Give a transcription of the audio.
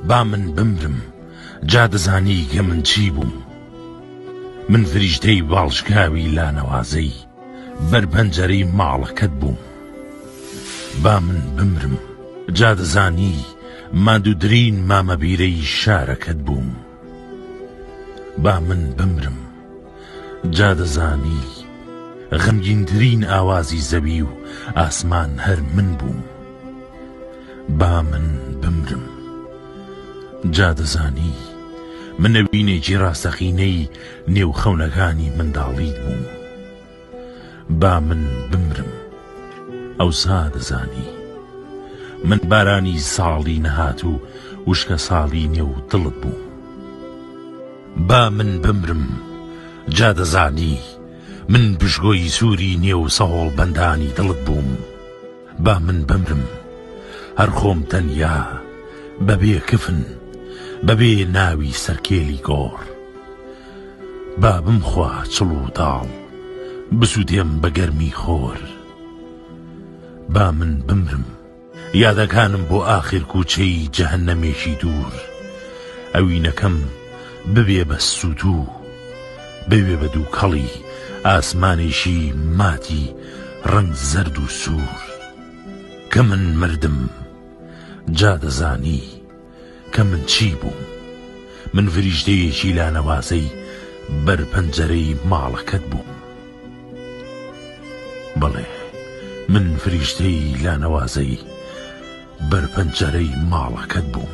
با من بمرم جا دەزانی گە من چی بووم من فریشتەی باڵشکاوی لانەوازەی بەر پەنجەرەی ماڵەکەت بووم با من بمرم جا دەزانی ماندوو ترین مامە بیرەی شارەکەت بووم با من بمرم جا دەزانی غەمگینترین ئاوازی زەوی و ئاسمان هەر من بووم با من بمرم جا دەزانی من نەوینێکی ڕاستەقینەی نێو خەونەکانی منداڵیت بووم. با من بمرم ئەوسا دەزانی من بارانی ساڵی نەهاتوو وشکە ساڵی نێو دڵت بووم با من بمرم جا دەزانی من بژگۆی سووری نێو سەهۆڵ بەندانی دڵت بووم با من بمرم هەر خۆم تەنیا بەبێ کفن بەبێ ناوی سەرکێلی گۆڕ با بمخوا چڵ و داڵ بسووتێم بە گەرمی خۆر با من بمرم یادەکانم بۆ ئاخر کووچەی جەهەنەمێکی دوور ئەوینەکەم ببێ بە سووتوو بوێ بە دووکەڵی ئاسمانێکی ماتی ڕەنگ زەرد و سوور کە من مردم جا دەزانی کە من چی بووم من فریشتەیەکی لانەوازەی بەر پەنجەرەی ماڵەکەت بووم بەڵێ من فریشتەی لانەوازەی بەر پەنجەرەی ماڵەکەت بووم